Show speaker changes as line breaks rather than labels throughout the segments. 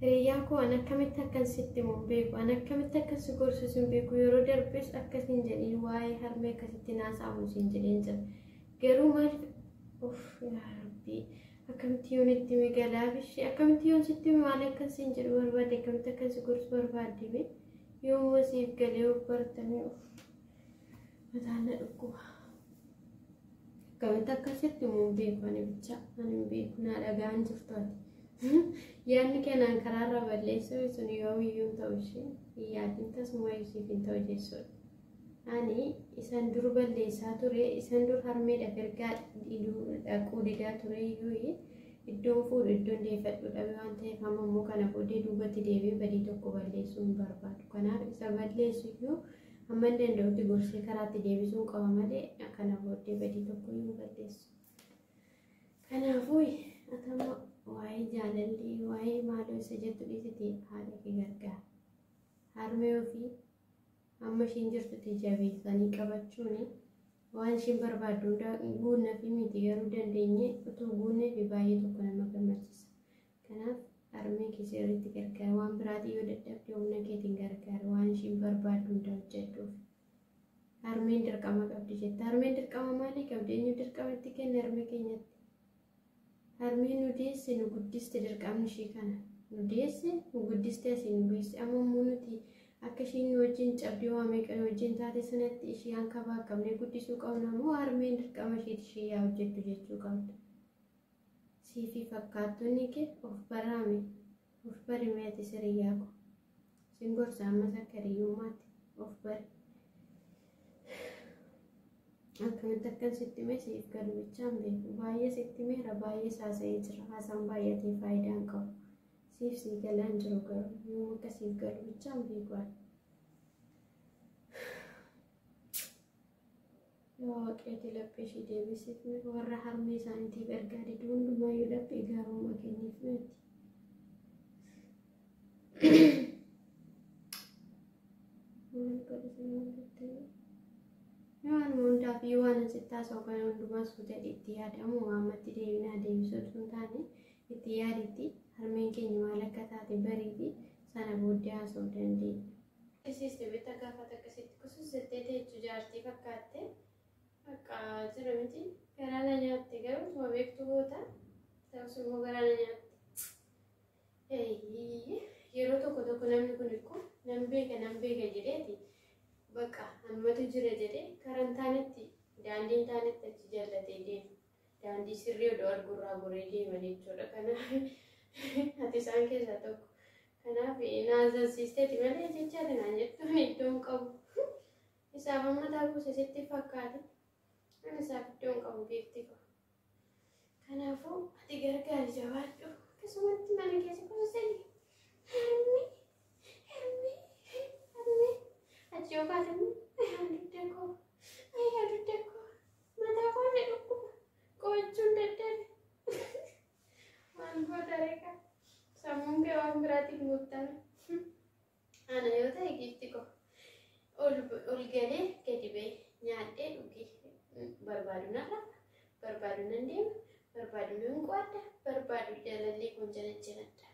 Hiriyyaa koo an akkamitti akkan sitti himu hin beeku. An akkamitti akkan si gorsus hin beeku. Yeroo darbes akkas hin jedhin waa'ee harmee akkasitti naasa'amu siin jedheen jira. Garuu maal of yaa rabbii akkamitti yoon itti hime galaaf ishee akkamitti yoon sitti hime maal akkan siin jedhu barbaadde akkamitti akkan si gorsu barbaadde mee yoomuma siif galee of bartamee of mataan na dhukkuba. Akkamitti akka sitti immoo hin beeku ani bicha ani hin beeku naa dhaga'an jirtu ati. Yaadni keenaan karaarra balleessuu sun yoomiyyuu hin ta'u ishee hin yaadin tasuma ishiif hin ta'u jechuudha. Ani isan dur balleessaa ture isan dur harmeedha ergaa dhaquu didaa ture iyyuu iddoon fuudhu iddoon deeffadhu dhabe waan ta'eef amma immoo kana booddee duubatti deebi'ee badii tokko balleessuu hin barbaadu. Kanaaf isa balleessu iyyuu Hamman danda'utti gorsee karaatti deebisuun qaba malee kana booddee badii tokko hin balleessu. Kanaafuu atama waa'ee jaalallee waa'ee maaloo isa jettu dhiisite haadha kee gargaara. Harmee ofii amma ishiin jirtutti jabeessanii qabachuun waan ishiin barbaaddu hundaa guunna fi miti garuu dandeenye utuu guunnee fi baay'ee tokko nama gammachiisa. Kanaaf harmee kee sirriitti gargaari. Waan biraatiin yoo dadhabde humna keetiin gargaari. Waan ishiin barbaaddu hunda hojjedhuuf. Harmeen dirqama qabdi jetta. Harmeen dirqama maalii qabdi? Eenyu dirqama itti kenne harmee keenyatti? Harmeen nu deesse nu guddiste dirqamni ishii kana. Nu deesse nu guddiste asii nu geesse. Amma immoo nuti akka ishiin nu wajjin cabdii waa meeqa nu wajjin taate sanatti ishii hanqabaa qabnee guddisuu qabna moo harmeen dirqama ishiiti ishii yaa hojjettu jechuu qabna. Sii fi fakkaattonni kee of baraa mee. Of bari mee atis hiriyyaa koo. Sin gorsa ammas akka hiriyyummaatti of bari. Akkamitti akkan sitti himee siif galu bichaa hin beeku. Baay'ee sitti himeera baay'ees haasa'ee jira. Haasaan baay'atee faayidaa hin qabu. Siif sii galaa hin jiru garuu yoom akka siif galu bichaa hin beeku ani. Yaa Waaqayyo laphee ishii deebisiif mee warra harmee isaaniitiif ergaa diduu hundumaayyuu laphee gaarummaa kenniif meetti. Waan hundaaf yoo waan asitti haasa'u kana hundumaa suuta itti yaadamu waammatti deebinaa deebisuu osoo hin taane itti yaaditti harmeen keenya maal akka taate bariiti sana booddee haasa'uu dandeenya. Siiste beektaa gaafa takka sitti kusus jettee teechu jaartii fakkaatte bakka jira miti garaa na nyaatte garuu utuma beektu goota ta'us immoo garaa na nyaatte. Eeyyii, Yeroo tokko tokko namni kun ikko nan beeka nan beeka jedheeti bakka hammatu jira jedhee karaa hin taanetti daandii hin taanetti achi jallatee deema. Daandii sirrii odoo arguurraa goree deema jechuudha. Kanaaf ati isaan keessaa tokko. Kanaaf na azansiisteeti malee jecha ati naan jettuun iddoo hin qabu. Isaaf amma taa buuse sitti fakkaate. Ani isaaf iddoo hin qabu giiftii koo. Kanaafuu ati gargaari jabaadhu. Akkasumatti mana keessa kuusanii. Harmi, harmi, harmi. Achi yoo kaate immoo ayyaa dugda koo, ayyaa dugda koo. Mataa koo na dhukkuba. Qo'achuun dadhabe. Maal goota reeka? Sammuun kee waan biraatiin guuttame. Ana yoo ta'e giifti koo ol ol galee gadi ba'e nyaadhee dhugee barbaadu nan lafa barbaadu nan deema barbaadu nan qo'adha barbaadu jaalallee kun janajjanadha.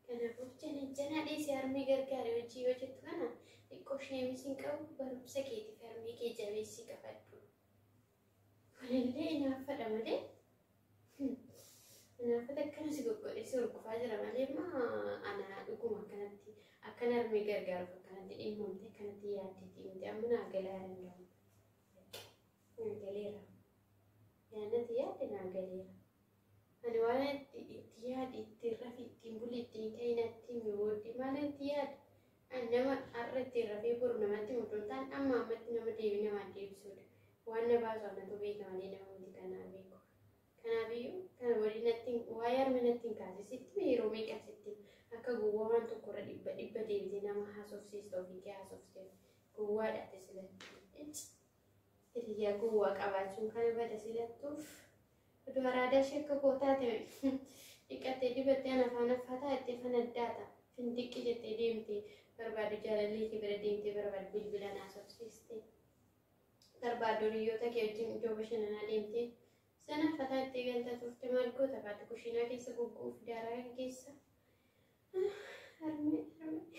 Kanaafuu janajjanaa dhiisee harmee gargaaree hojii yoo jettu kana xiqqoo sheemisiin qabu barumsa keetiif harmee kee jabeessii qabadhu. Kunillee inaaffadha malee. Inaaffata akkana si goggodhe si horgufaa jira malee immoo ana dhuguma akkanatti akkan harmee gargaaruuf akkanatti dhimmamte akkanatti yaaddeetti miti amma naa galaa danda'u. Naa galeera. Yaannati yaadde naa galeera. Ani waan itti itti yaadi ittiin rafi ittiin buli ittiin ka'ina ittiin mi'ooddi maal itti yaada? An nama har'a ittiin rafee boru namatti himu otoo hin taane amma ammatti nama deebii namaan deebisuudha. Waan na baasu anatu beeka malee nama miti kanaa beeku. Kanaafiyyuu kana walii natti hin- waa'ee harmee natti hin kaase sitti mee yeroo meeqan sitti akka gowwaa waan tokkorra dhibba dhibba deebitee nama haasofsiista ofii kee haasofteef gowwaadha ati sila. Icci. Hiriyaa gowwaa qabaachuun kana bada silattuuf oduu araadaa ishee akka koo taate dhiqattee dibattee ana afaan affataa itti fanaddaata fintiqqi jettee deemte barbaadu jaalallee kee bira deemtee barbaadu bilbila naasofsiiste barbaadu hiriyoota kee wajjin iddoo bashannanaa deemtee sana fataa itti galta turte maal goota kaatu kushiinaa keessa gugguuf daaraa keessa harmee harmee.